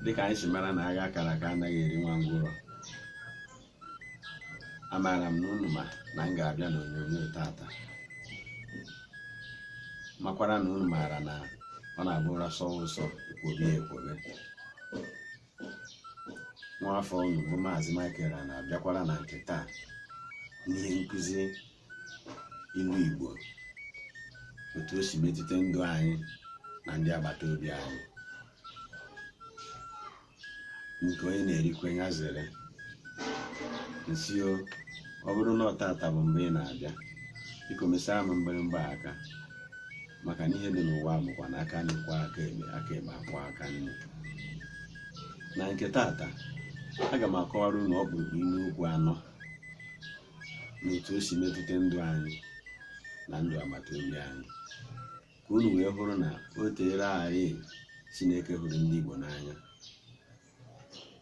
dịka anyị si mara na agha akara aka anaghị eri nwa ngwụrọ amaara m na unu ma na m ga-abịa n'onyonyo tata makwara na unu maara na ọ na-abụ ụra sọwa ụsọ ekwobe ya ekwobe nwaafọ unu bụ maazị Michael a na-abịakwara na nke taa n'ihe nkụzi ilu Igbo otu o si metụta ndụ anyị na ndị agbata obi anyị nke onye na-erikwe ya zere nsi o ọ bụrụ na ọ tata bụ mgbe ị na-abịa biko mesaa m mgbịrịmgba aka maka na ihe dị n'ụwa bụkwa na aka nri kwọọ aka ekpe aka ekpe akwọọ aka nri na nke tata aga m akọwara unu ọkpụrụkpụ inu okwu anọ na otu o si metụta ndụ anyị na ndụ agbata obi anyị ka unu wee hụrụ na o teere anya Chineke hụrụ ndị Igbo n'anya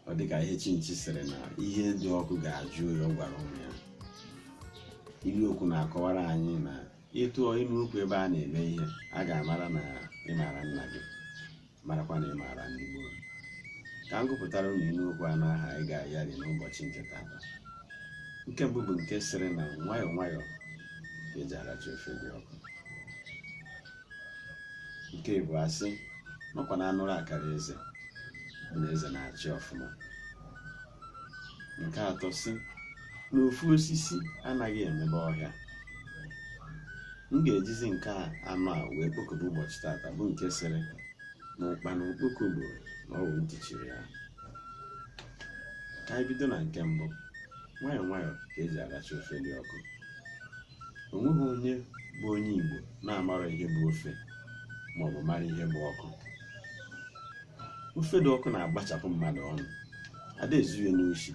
ọ dị ka ihe chinchi sịrị na ihe dị ọkụ ga-ajụ oyi ọ gwara ụmụ ya ilu okwu na-akọwara anyị na ị tụọ inu okwu ebe a na-eme ihe a ga-amara na ị maara nna gị marakwa na ị maara ndị gboo ka m gụpụtara unu inu okwu anọ ahụ anyị ga-ayari n'ụbọchị nke tata nke mbụ bụ nke sịrị na nwayọọ nwayọọ ka eji aracha ofe dị ọkụ nke ịbụa sị na ọkwa na anụrụ akara eze bụ na eze na-achị ọfụma nke atọ sị na ofu osisi anaghị emebe ọhịa m ga-ejizi nke anọ a wee kpokọba ụbọchị tata bụ nke sịrị na ụkpana okpoko gburu na ọ wụ ntị chiri ya ka anyị bido na nke mbụ nwayọọ nwayọọ ka eji aracha ofe dị ọkụ o nweghị onye bụ onye Igbo na-amara ihe bụ ofe ma ọ bụ mara ihe bụ ọkụ ofe dị ọkụ na-agbachapụ mmadụ ọnụ ada ezu ya n'oshi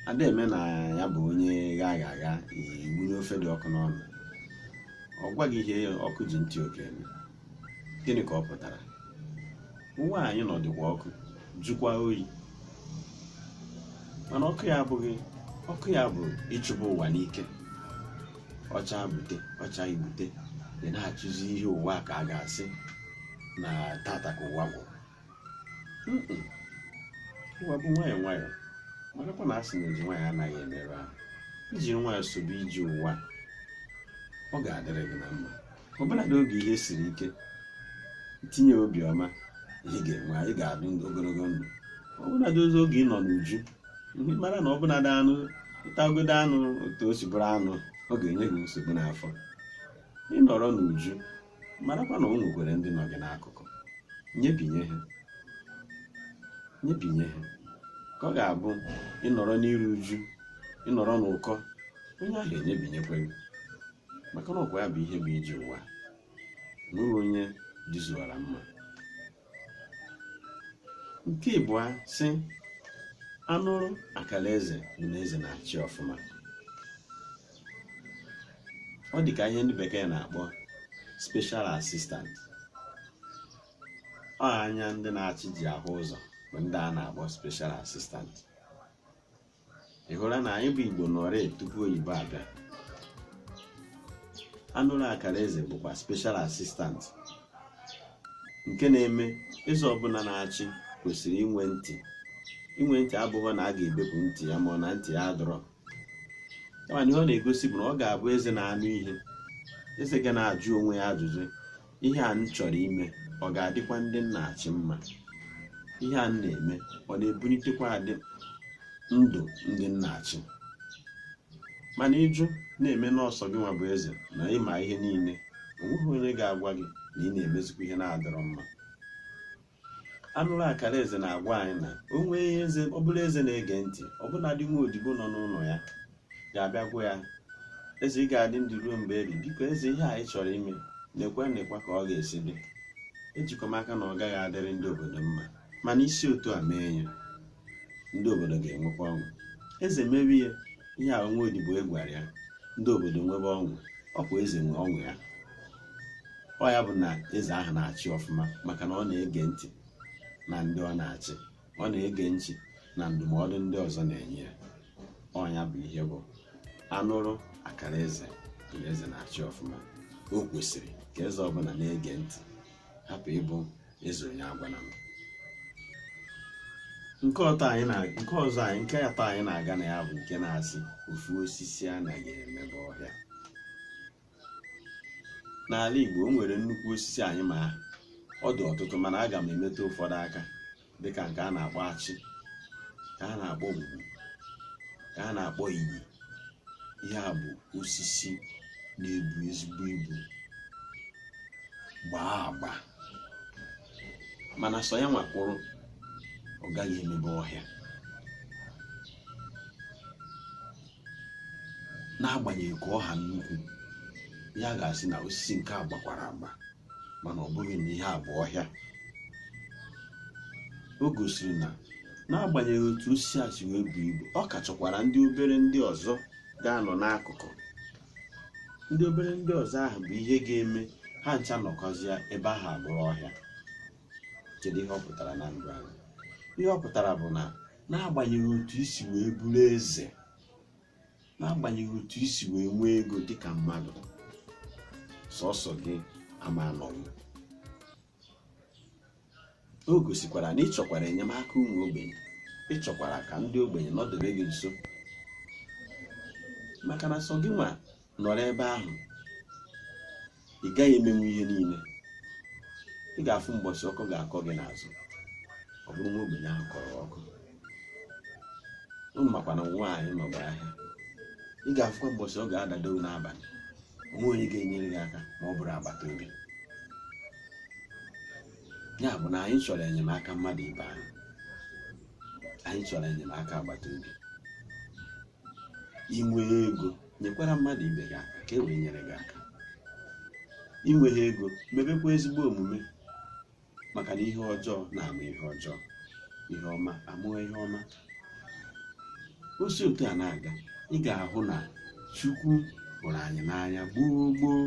ada eme na ya bụ onye gha agha agha i wunye ofe dị ọkụ n'ọnụ ọ gwa gị ihe ọkụ ji ntị oke eme gịnị ka ọ pụtara ụwa anyị nọ dịkwa ọkụ jụkwa oyi mana ọkụ ya abụghị ọkụ ya bụ ịchụba ụwa n'ike ọ cha bute ọ chaghị bute ị na-achụzi ihe ụwa ka a ga-asị na tata ka ụwa gwụrụ ụwa bụ nwayọọ nwayọọ marakwa na a sị na eji nwayọọ anaghị emerụ ahụ i jiri nwayọọ sobe ije ụwa ọ ga-adịrị gị na mma ọbụnadị oge ihe siri ike tinye obi ọma ị ga-enwe ị ga-adị ogologo ndụ ọbụnadịzi oge ị nọ n'uju mara na ọbụnadị anụ ị tagodo anụ otu o si bụrụ anụ ọ ga-enye gị nsogbu n'afọ ị nọrọ n'uju marakwa na o nwekwara ndị nọ gị n'akụkụ nyebinye ha nyebinye ha ka ọ ga-abụ ị nọrọ n'iru uju ị nọrọ n'ụkọ onye ahụ enyebinyekwa gị maka na ọkwa ya bụ ihe bụ ije ụwa o nwerọ onye dịzuwara mma nke ịbụa sị anụrụ akara eze bụ na eze na-achị ọfụma ọ dị ka ihe ndị bekee na-akpọ special assistant ọ anya ndị na-achị ji ahụ ụzọ bụ ndị a na-akpọ special assistant ị hụla na anyị bụ igbo nọrị tupu oyibo abịa anụrụ akara eze bụkwa special assistant nke na-eme eze ọbụla na-achị kwesịrị inwe ntị inwe ntị abụghị na a ga-ebepụ ntị ya ma ọ na ntị ya adọrọ kama na ihe ọ na-egosi bụ na ọ ga-abụ eze na-anụ ihe eze ga na-ajụ onwe ya ajụjụ ihe a m chọrọ ime ọ ga-adịkwa ndị m na-achị mma ihe a m na-eme ọ na-ebunitekwa adị ndụ ndị m na-achị mana ịjụ na-eme na ọ sọ gị nwa bụ eze na ị ma ihe niile o nweghị onye ga-agwa gị na ị na-emezikwa ihe na-adọrọ mma anụrụ akara eze na-agwa anyị na o nwee ihe eze ọ bụrụ eze na-ege ntị ọbụnadị nwa odibo nọ n'ụlọ ya ga-abịa gwa ya eze ị ga-adị ndụ ruo mgbe ebi biko eze ihe anyị chọrọ ime neekwa neekwa ka ọ ga-esi dị ejikwa m aka na ọ gaghị adịrị ndị obodo mma mana i si otu a mee ya ndị obodo ga-enwekwa ọṅụ eze mewe ihe ihe a nwa odibo a gwara ya ndị obodo nwebe ọṅụ ọ kwa eze nwe ọṅụ ya ọ ya bụ na eze ahụ na-achị ọfụma maka na ọ na-ege ntị na ndị ọ na-achị ọ na-ege ntị na ndụmọdụ ndị ọzọ na-enye ya ọ ya bụ ihe bụ anụrụ akara eze na eze na-achị ọfụma o kwesịrị ka eze ọbụla na-ege ntị hapụ ịbụ eze onye agwala m nke ọzọ nke atọ anyị na-aga na ya bụ nke na-asị ofu osisi anaghị emebe ọhịa n'ala Igbo o nwere nnukwu osisi anyị ma ọ dị ọtụtụ mana aga m emetụ ụfọdụ aka dịka nke a na-akpọ achị ka a na-akpọ ngwu ka a na-akpọ iyi ihe a bụ osisi na-ebu ezigbo ibu gbaa agba mana sọ ya nwa kwụrụ ọ gaghị emebe ọhịa n'agbanyeghị ka ọ ha nnukwu a ga-asị na osisi nke a gbakwara agba mana ọ bụghị na ihe a bụ ọhịa o gosiri na n'agbanyeghị otu osisi a si wee buo ibu ọ ka chọkwara ndị obere ndị ọzọ ga-anọ n'akụkụ ndị obere ndị ọzọ ahụ bụ ihe ga-eme ha ncha nọkọzịa ebe ahụ abụrụ ọhịa kedu ihe ọ pụtara na ndụ anyị ihe ọ pụtara bụ na n'agbanyeghị otu i si wee bụrụ eze n'agbanyeghị otu i si wee nwee ego dịka mmadụ sọsọ gị ama anọnwu o gosikwara na ị chọkwara enyemaka ụmụ ogbenye ị chọkwara ka ndị ogbenye nọdebe gị nso maka na sọ gị nwa nọrọ ebe ahụ ị gaghị emenwu ihe niile ị ga-afụ mbọchị ọkọ ga-akọ gị n'azụ ọ bụrụ nwa ogbenye ahụ kọrọ ọkọ unu makwa na nwaanyị nọgba ahịa ị ga-afụkwa mbọchị ọ ga-adado n'abalị o nwe onye ga-enyere gị aka ma ọ bụrụ agbata obi ya bụ na anyị chọrọ enyemaka mmadụ ibe anyị anyị chọrọ enyemaka agbata obi i nwee ego nyekwara mmadụ ibe gị aka ka e wee nyere gị aka i nweghị ego mebekwa ezigbo omume maka na ihe ọjọọ na-amụ ihe ọjọọ ihe ọma amụọ ihe ọma o si otu a na-aga ị ga-ahụ na chukwu hụrụ anyị n'anya gboo gboo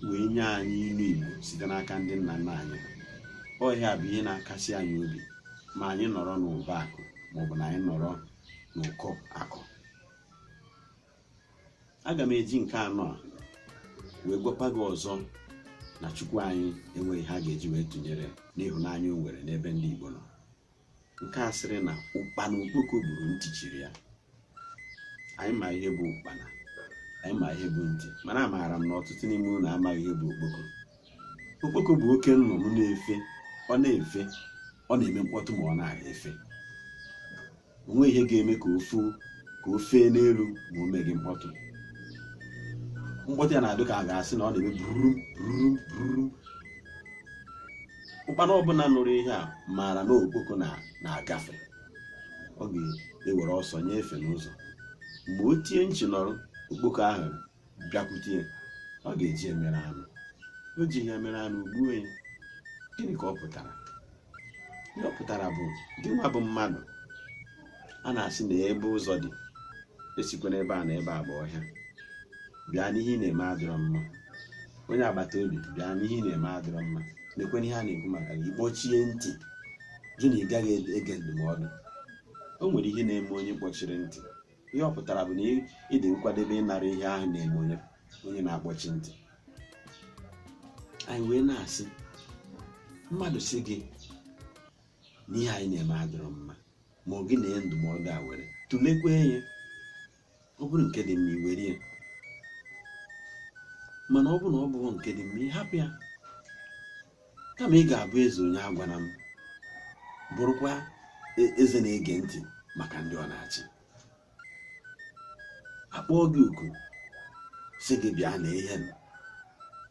wee nye anyị ilu igbo site n'aka ndị nna nna anyị ọ ya bụ ihe na-akasi anyị obi ma anyị nọrọ n'ụba akụ maọbụ na anyị nọrọ n'ụkọ akụ aga m eji nke anọ a wee gwakwa gị ọzọ na chukwu anyị enweghị ihe a ga-eji wee tụnyere n'ịhụnanya o nwere n'ebe ndị igbo nọ nke a sịrị na ụkpana okpoko gburu ntị chiri ya anyị ma ihe bụ ụkpana anyị ma ihe bụ ntị mana amaara m na ọtụtụ n'ime unu amaghị ihe bụ okpoko okpoko bụ oke nnụnụ na-efe ọ na-efe ọ na-eme mkpọtụ ma ọ na- na-efe o nweghị ihe ga-eme ka o fee n'elu ma o meghị mkpọtụ mkpọtụ ya na-adị ka a ga-asị na ọ na-eme burum burum burum ụkpana ọbụla nụrụ ihe a maara na okpoko na- na-agafe ọ ga-ewere ọsọ nye efe n'ụzọ mgbe o tie nchi nọrọ okpoko ahụ bịakwute ya ọ ga-eji emere anụ o ji ihe mere anụ gbuo ya gịnị ka ọ pụtara ihe ọ pụtara bụ gị nwa bụ mmadụ a na-asị na ebe ụzọ dị esikwana ebe a na ebe a bụ ọhịa bịa na ihe ị na-eme adịrọ mma onye agbata obi bịa na ihe ị na-eme adịrọ mma nekwene ihe a na-ekwu maka gị kpọchie ntị jụ na ị gaghị ege ndụmọdụ o nwere ihe na-eme onye kpọchiri ntị ihe ọ pụtara bụ na ị- ị dị nkwadebe ịnara ihe ahụ na-eme onye na-akpọchi ntị anyị wee na-asị mmadụ sị gị na ihe anyị na-eme adịrọ mma ma ọ gị na ya ndụmọdụ a were tụlekwa ya ọ bụrụ nke dị mma i were ya mana ọ bụrụ na ọ bụghị nke dị mma ị hapụ ya kama ị ga-abụ eze onye agwana m bụrụkwa e- eze na-ege ntị maka ndị ọ na-achị a kpọọ gị oku sị gị bịa na ihe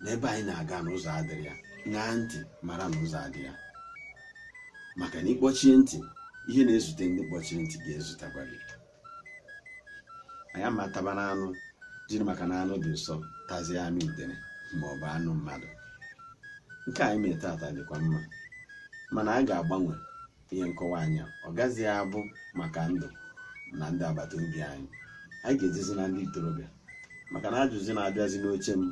na ebe anyị na-aga na ụzọ adịrọ ya ṅaa ntị mara na ụzọ adịrọ ya maka na ị kpọchie ntị ihe na-ezute ndị kpọchiri ntị ga-ezutakwa gị anyị ama taba n'anụ jiri maka na anụ dị ụsọ tazie anụ udene ma ọ bụ anụ mmadụ nke anyị mere tata dịkwa mma mana anyị ga-agbanwe ihe nkọwa anyị a. ọ gaghịzi abụ maka ndụ na ndị agbata obi anyị anyị ga-ejezi na ndị ntorobịa maka na ajụzi na-abịazi n'oche m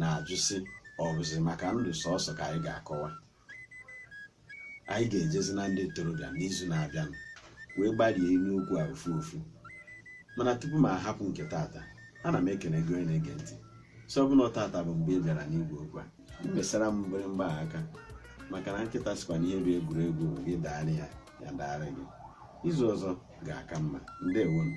na-ajụ sị ọ bụzi maka ndụ sọsọ ka anyị ga-akọwa anyị ga-ejezi na ndị ntorobịa n'izu na-abịanụ wee gbarie ilu okwu a ofu ofu mana tupu m ahapụ nke tata ana m ekene gị onye na-ege ntị sị ọ bụ na tata bụ mgbe ị bịara n'igwe okwu a mesara m mgbịrịmgba a aka maka na nkịta sịkwa na ihe bụ egwuregwu bụ gị daara ya ya daara gị izu ọzọ ga-aka mma ndewonu